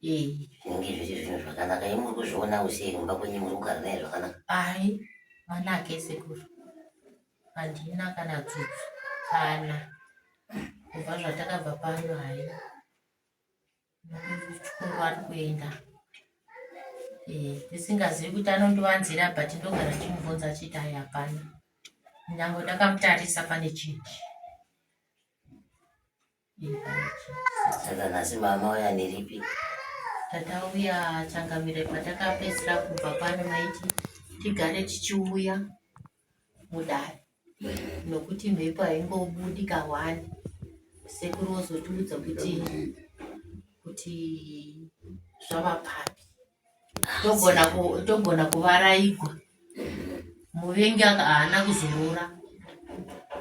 Yei. Zvinenge zviri zvinhu zvakanaka imi muri kuzvionawo sei kumba kwenyu muri kugara naye zvakanaka Ayi, mwana hake sekuru. Handina kana tsutsu. Kana. Kubva zvatakabva pano hayi. Chikuru ari kuenda. Eh, ndisingazivi kuti anondiwanzira but ndogara ndichimubvunza achiti ayi hapana. Nyange ndakamutarisa pane chinji. Saka nhasi mama uya niripi? Tata uya changamire patakapedzera kubva pano maiti tigare tichiuya mudare nokuti mhepo haingobudi kahwani sekuru vozotiudza kuti kuti zvava papi Togona ku togona kuvaraigwa muvengi aka haana kuzorora.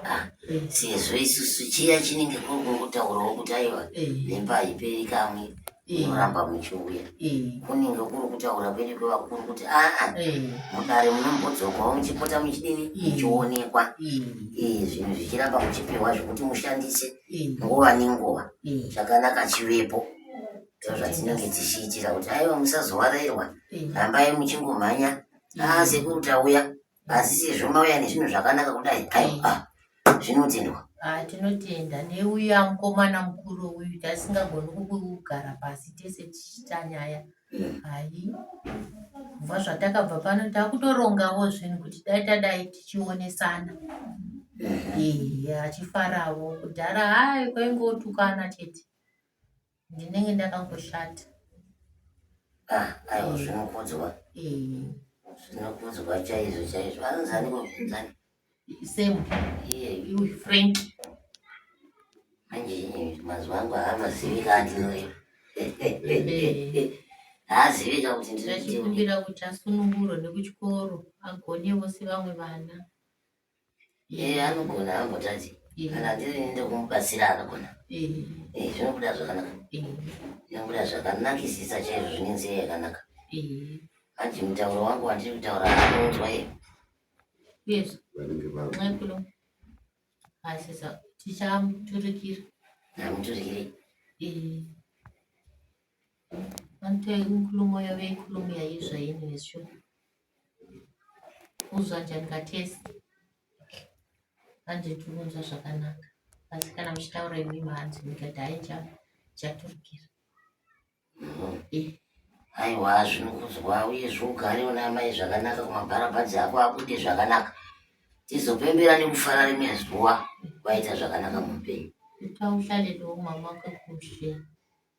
Ah, eh, sezvo isusu chiya chinenge kuri kungotaurawo kuti aiwa eh, nemba haiperi kamwe eh, inoramba muchiuya eh, kunenge kuri kutaura kwedu kwevakuru kuti aa eh, mudare munombodzokawo muchipota muchidini Mm. muchionekwa eh, Eh, zvinhu zvichiramba muchipiwa zvekuti mushandise eh, nguva nenguva eh. chakanaka chivepo ndozvadzinenge dzichiitira kuti aiwa musazowarairwa rambai muchingomhanya aa sekuru tauya asi sezvo mauya nezvinhu zvakanaka kudai aiwa zvinotendwa Ah, tinotenda neuya mukomana mukuru uyu tasingagoni kugara pasi tese tichiita nyaya mm. hai kubva zvatakabva pano takutorongawo zvinhu kuti dai tadai tichionesana mm-hmm. ehe achifarawo kudhara hai kwaingotukana chete Ndinenge ndakangoshata. Ah, aiwa zvinokudzwa. Eh. Zvinokudzwa chaizvo chaizvo. Anonzi ani kuzvinzani? Same. Iye iwe Frank. Manje mazuva angu haamazivi kati noye. Haazivika kuti ndinotimbira kuti asunungurwe nekuchikoro agone vose vamwe vana. Yeah, anogona ambotadzi kana ndiri ende kumubatsira anogona eh, zvinobuda zvakanaka zvinobuda zvakanakisisa chaizvo zvine nzira yakanaka hanzi mutauro wangu wandiri kutaura anounzwa iye yes nxekulo asisa tichamuturikira amuturikire vanotoi nkulumo yave nkulumo yaizvaini nezvo Kuzwa janga tese hanzi tikunzwa zvakanaka asi kana muchitaura imimi hanzi ndikati hai chaturikira aiwa zvinokuzwa uye zvougare una amai zvakanaka kumabharabhadzi ako akuite zvakanaka tizopembera nekufara rimwe zuva kwaita zvakanaka muupenyu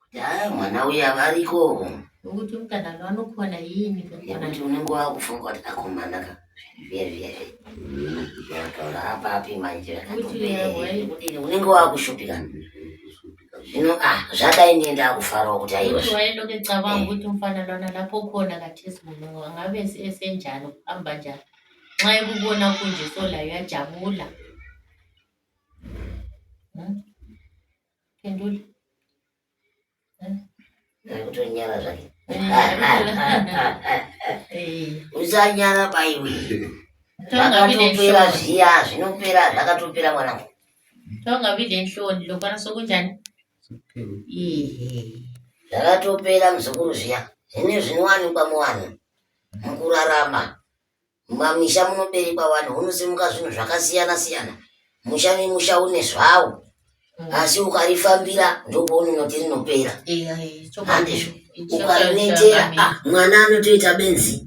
Kudhaya mwana uya variko. Nokuti kana vanokwana yini nekuti unenge wakufunga kuti akomana ka zvivezvizvi unotora apapi manje zvakatodini unenge wakushupika zvino a ah, zvadai ndiye ndakufarawo kuti aiwaendokecabanga kuti mufana lona lapokona katesi munhu angabe esenjani kufamba njani nxa ekubona kunje solayo yajabula Kenduli. Kutonyara zvake. Usanyara baiwe. Zvakatopera zviya zvinopera zvakatopera mwanangu. Tonga vide nhloni lokwana sokunjani? Zvakatopera muzukuru zviya. Zvine zvinowanikwa muwanhu mukurarama. Mumamisha munoberekwa vanhu hunosimuka zvinhu zvakasiyana siyana. Musha nemusha une zvawo. Asi ukarifambira ndopounonoti rinopera. Handizvo. Ukarinetera ah, mwana anotoita benzi.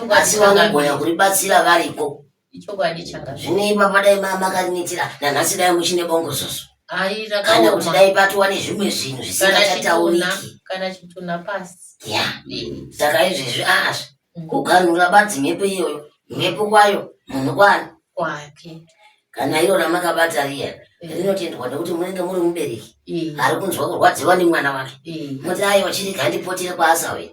Asi vanogona kuribatsira variko. Ichokwadi changa. Zvine ipapa dai mama makarinetera nanhasi dai muchine bongozozo. Hai Kana kuti rakaoma. dai patova nezvimwe zvinhu Kana zvisingachatauriki. chitunha, kana chitunha pasi. Yeah. Saka izvezvi aazvi Kuganhura badzi mhepo iyoyo. Mhepo kwayo munhu kwani? Kwake. Kana iro ramakabata riya rinotendwa nekuti munenge muri mubereki ari kunzwa kurwadziwa nemwana wake. Moti aiwa chirega ndipotire kwaasauya.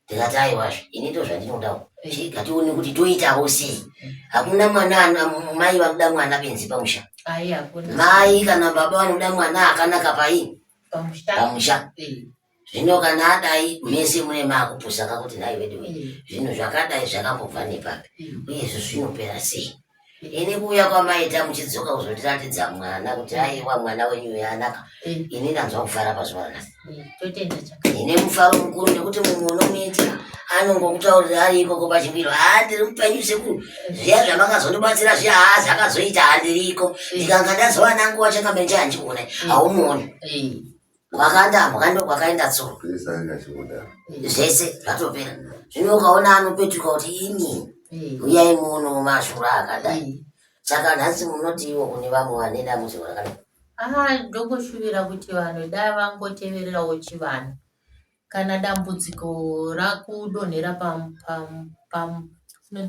Ndikati aiwazve ini ndo zvandinodawo. Chirega tione kuti toitawo sei. Hakuna mwana mai vanoda mwana benzi pamusha. Mai kana baba vanoda mwana akanaka paini? Pamusha. zvino kana adai mese mune makupusa kakuti nhai veduwe mm. zvinhu zvakadai zvakambobva nepapi mm. uyezvo zvinopera sei mm. ini kuuya kwamaita muchidzoka kuzondiratidza mwana kuti aiwa mwana wenyu uyo anaka ini ndanzwa kufara pazuva rakasi ine mufaro mukuru nekuti mumwe unomuitira anongokutaurira ari ikoko pachimiro haa ndiri mupenyu sekuru zviya zvamakazondibatsira zviya haa zvakazoita handiriko ndikanga ndazova nangu wachakamenje handione haumuoni kwakandambwa ndokwakaenda tsoro zvese zvatopera zvino ukaona anopetuka kuti ini uyai muno mashura akadai saka nhasi munotiiwo kune vamwe vane dambudziko rakadai aa ndokushuvira kuti vanhu dai vangotevererawo chivanhu kana dambudziko rakudonhera pam, pam, pam, pam,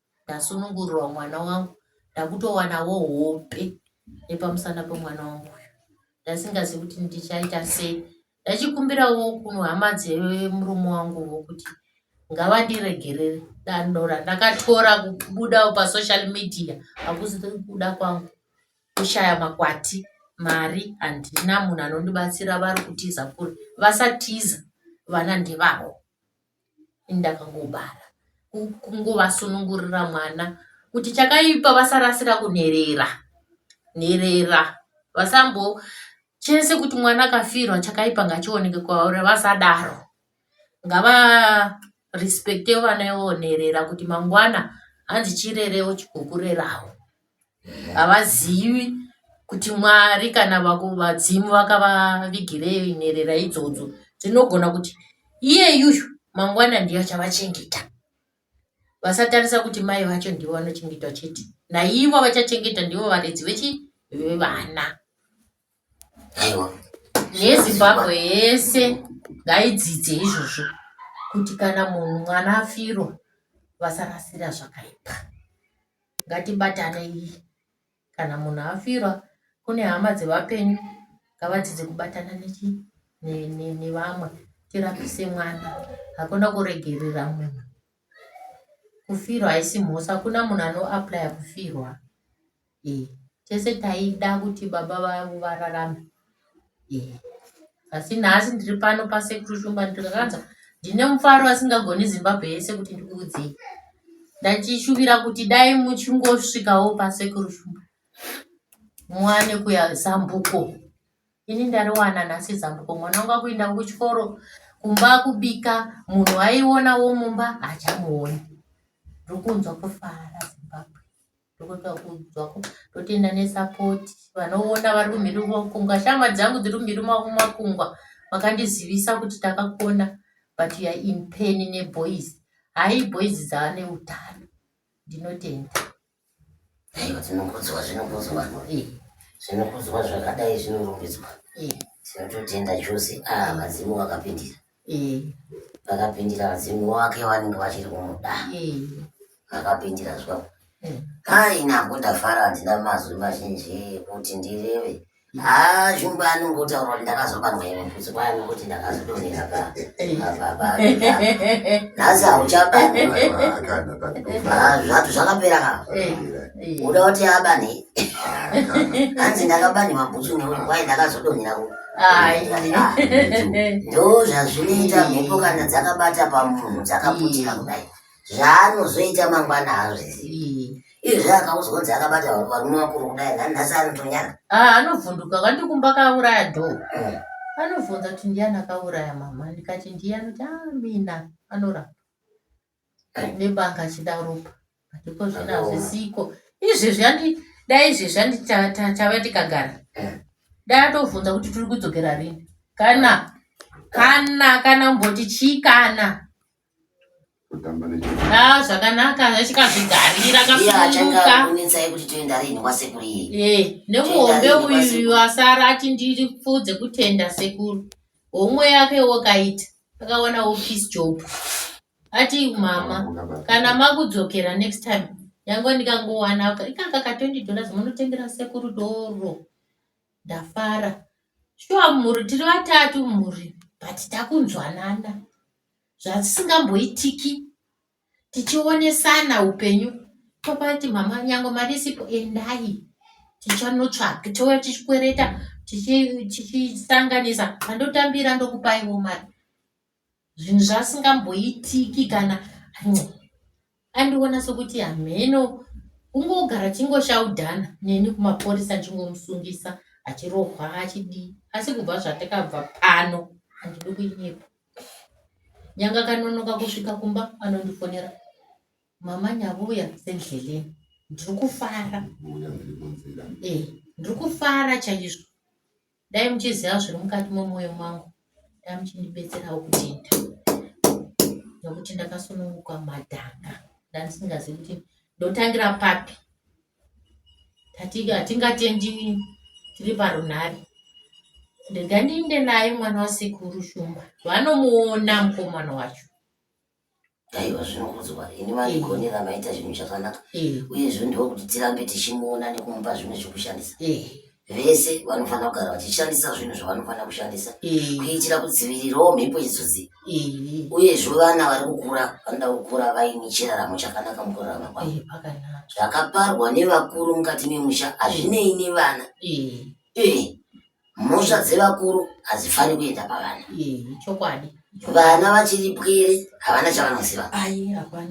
ndasunungurirwa mwana wangu ndakutowanawo hope nepamusana pemwana wangu uyu ndasingazi kuti ndichaita sei ndachikumbirawo kuhama dzemurume wanguwo kuti ngavandiregerere dando randakatora kubuda pasocial media hakusi kuda kwangu kushaya makwati mari handina munhu anondibatsira vari kutiza kuri vasatiza vana ndevavo Ndakangobara kungovasunungurira mwana kuti chakaipa vasarasira kunherera nherera vasambo chese kuti mwana akafirwa chakaipa ngachioneke kwauri vasadaro ngava respecte vana ivonherera kuti mangwana hanzi chirerewo chikukurerawo. havazivi kuti mwari kana vadzimu vakavavigirei nherera idzodzo dzinogona kuti iyeyuyu mangwana ndiyo achavachengeta vasatarisa kuti mai vacho ndivo vanochengetwa chete naivo vachachengeta ndivo varedzi vechivana aiwa nezimbabwe yese ngaidzidze izvozvo kuti kana munhu mwana afirwa vasarasira zvakaipa ngatibatanei kana munhu afirwa kune hama dzevapenyu ngavadzidze kubatana nechii nevamwe tirapise mwana hakuna kuregerera munhu Kufirwa haisi mhosva hakuna munhu ano applier kufirwa eeh tese taida kuti baba vavo vararame eeh asi nhasi ndiri pano pasekuru shumba ndikakanza ndine mufaro asingagoni zimbabwe yese kuti ndikuudzei ndachishuvira kuti dai muchingosvikawo pasekuru shumba muwane kuya zambuko ini ndariwana nhasi zambuko mwana wangu akuinda kuchikoro kumba kubika munhu aiona wo mumba hachamuoni ndokunzwa kufara zimbabwe ndokuta kunzwako ndotenda nesapoti vanoona vari kumhiri kumakungwa shama dzangu dziri kumhiri kumakungwa vakandizivisa kuti takakona but ya in pain neboys hai boys dzaane utano ndinotenda Aiwa dzinokudzwa zvinokudzwa ii zvinokudzwa zvakadai zvinorumbidzwa ii tinototenda chose ah vadzimu vakapindira ii vakapindira vadzimu wake vanenge vachiri kumuda ii vakapindira zvavo hai nako ndafara handina mazwi mazhinji kuti ndireve Haa shumba anongotaura kuti ndakazobanwa here mfutsi kwaye nokuti ndakazodonera pa nhasi hauchabani zvatu zvakapera ka uda kuti abani hanzi ndakabani mabhutsu nekuti kwaye ndakazodonera ku ndo zvazvinoita mhepo kana dzakabata pamunhu dzakaputika kudai zvaanozoita mangwana haazvizivi izvi akaudzwa kunzi akabata varume vakuru kudai ngani nhasi anotonyana ah, anovhunduka kanti kumba kauraya dho mm. anobvunza kuti ndiyani akauraya mama ndikati ndiyani kuti ah, mina anorapa eh. nebanga achida ropa atiko zvino hazvisiko izvezvi andi dai izvezvi andi tave tikagara eh. dai atovhunza kuti tiri kudzokera rini kana kana kana mboti chii kana kutamba nechii Ah, zvakanaka achikazvigarira iye akasununguka achakanetsai kuti toenda rini kwasekuru iye Eh, nemuhombe Tenda rini uyu kwasekuru. wasara ati ndiri pfudze kutenda sekuru homwe yake wakaita akawana wopis job ati mama Unabata. kana makudzokera next time yango ndikangowana ka- ikaka ka 20 dollars munotengera sekuru doro ndafara shuwa mhuri tiri vatatu mhuri but takunzwanana zvatisingamboitiki tichionesana upenyu tobva tati mama nyangwe mari isipo endai tichanotsvaga touya tichikwereta tichi- tichisanganisa andotambira ndokupaiwo mari zvinhu zvasingamboitiki kana Andiona sokuti hameno kungogara chingoshaudhana neni kumaporisa achingomusungisa achirohwa achidii asi kubva zvatakabva pano handidi kuinyepa nyanga kanonoka kusvika kumba anondifonera mama nyavuya sendleleni ndiri kufara e ndiri kufara chaizvo Dai muchiziva zviri mukati memoyo mangu dai muchindibetserawo kutenda nokuti ndakasununguka madhanga ndandisingazivi kuti ndotangira papi hatingatendi tiri parunhare ndega ndiinde naye mwana wasekuru shumba vanomuona mukomana wacho aiwa zvinokudzwa ini vandigonera eh. maita zvinhu zvakanaka eh. uyezvo ndiwo kuti tirambe tichimuona nekumupa zvimwe zvekushandisa eh. vese vanofanira kugara vachishandisa zvinhu zvavanofanira kushandisa kuitira kudzivirirawo mhepo idzodzi uyezvo vana vari kukura vanoda kukura vaine chiraramo chakanaka mukurarama kwavo zvakaparwa nevakuru mukati memusha hazvinei nevana mhosva dzevakuru hadzifani kuenda pavana chokwadi vana vachiri pwere havana chavanoziva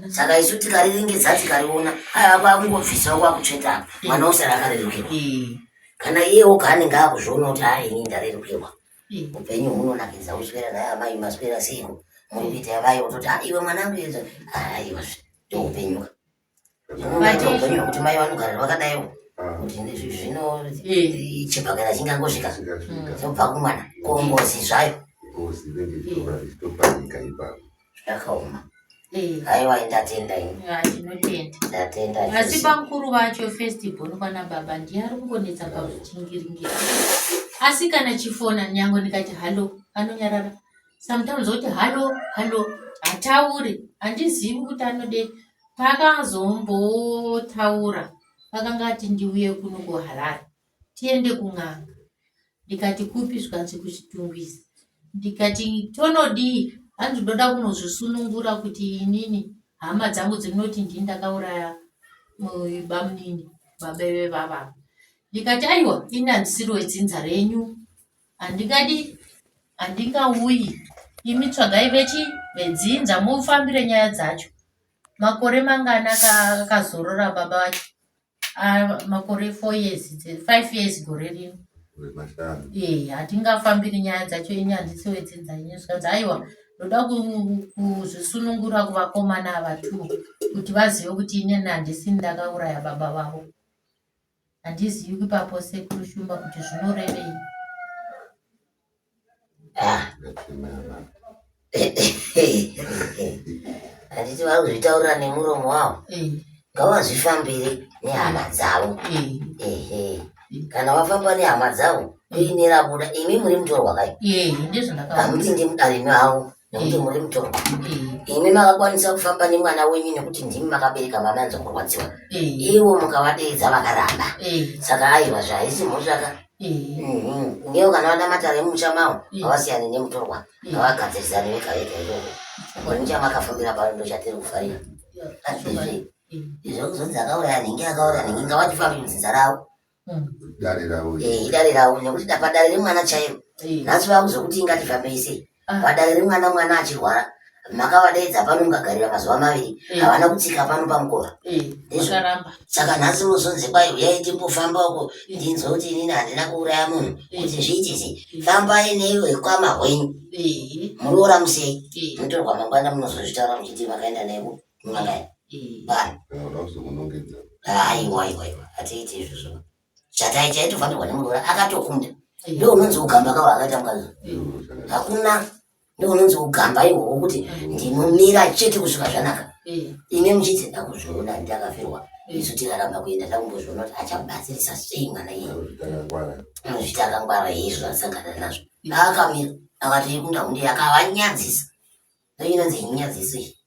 saka isu tikariringedza tikariona aya kwakungobvisawo kwakutsveta mwana usara akarerukirwa kana iye oga anenge akuzviona kuti haa ini ndarerukirwa upenyu hunonakidza uswera naye amai maswera seiko muri kuita yavai ototi iwe mwanangu yeza aiwa ndoupenyuka Vatiyo kuti mai vanogara vakadaiwo kuti zvino chibhakera chingangosvika zobva kumwana ko ngozi zvayo ngozi inenge ichitopanika ipapo zvakaoma haiwa ndatenda indatenda asi pamukuru vacho first born kwana baba ndiye ari kungonetsa pakuchingiringira asi kana chifona nyange ndikati hallo anonyarara sometimes oti hallo hallo hatauri handizivi kuti anode Takazombotaura vakanga vati ndiuye kuno kuHarare tiende kun'anga ndikati kupi zvikanzi kuchitungwiza ndikati tonodii hanzi ndoda kunozvisunungura kuti inini hama dzangu dzinoti ndini ndakauraya bamunini babeve vavava ndikati aiwa ini handisiri wedzinza renyu Handingadi, handingauyi. Imi tsvagai vechi vedzinza mufambire nyaya dzacho. Makore mangani aka- akazorora baba vacho? Ah, makore four years, dze- five years gore rino. Kure mashanu. Eh, hatingafambiri nyaya dzacho ini handisi wedzinza ini zvikanzi aiwa ndoda ku- kuzvisunungura kuvakomana ava two kuti vazive kuti inini handisi ndakauraya baba vavo Handizivi kwipapo sekuru Shumba kuti zvinorevei. Ah. Handiti vari kuzvitaurira nemuromo wavo. Eh. Ngavazvifambire nehama dzavo. Eh. Kana wafamba nehama dzavo kuinira buda imi muri mutorwa kai. Hamuti ndimudari mavo. nekuti muri mutorwa imi makakwanisa kufamba nemwana wenyu nekuti ndimi makabereka mwana anza kurwadziwa ivo mukavadeedza vakaramba saka aiwa zvahaisi mhoshaka mhm. ngewo kana vana matare emumusha mavo havasiyane nemutorwa ngavagadzirisane vega vega ivovo onichamakafambira pano ndochatiri kufarira azvizvi izvo kuzonzi akauraya nhingi akauraya nhingi ngavachifambi muzinza ravo dare ravo eh, idare ravo nekuti padare remwana chaivo eh. nhasi vakuzokuti ingatifambei sei ah. padare remwana mwana achirwara makavadaidza pano mukagarira mazuva maviri eh. havana kutsika pano pamukova saka nhasi unozonzi kwai uyai timbofamba uko ndinzwa kuti inini handina kuuraya munhu kuti zviiti sei fambai neiwe kwama hwenyu muroora musei mutorwa mangwana munozozvitaura muchiti makaenda nevo Mwanai. Bani. Unoda kuzomunongedza. Aiwa aiwa aiwa. Atiiti izvi zvino. Chatai chaitofanirwa nemuroora akatokunda. Ndiwo unonzi ugamba kawo akaita mukadzi. Hakuna ndiwo unonzi ugamba ihwohwo kuti ndinomira chete kusvika zvanaka. Ine muchiti ndakuzviona ndakafirwa isu tikaramba kuenda takumbozviona kuti achabatsirisa sei mwana iye anozvita akangwara izvo asangana nazvo ndaakamira akatoikunda hunde akavanyadzisa ndoinonzi inyadzisi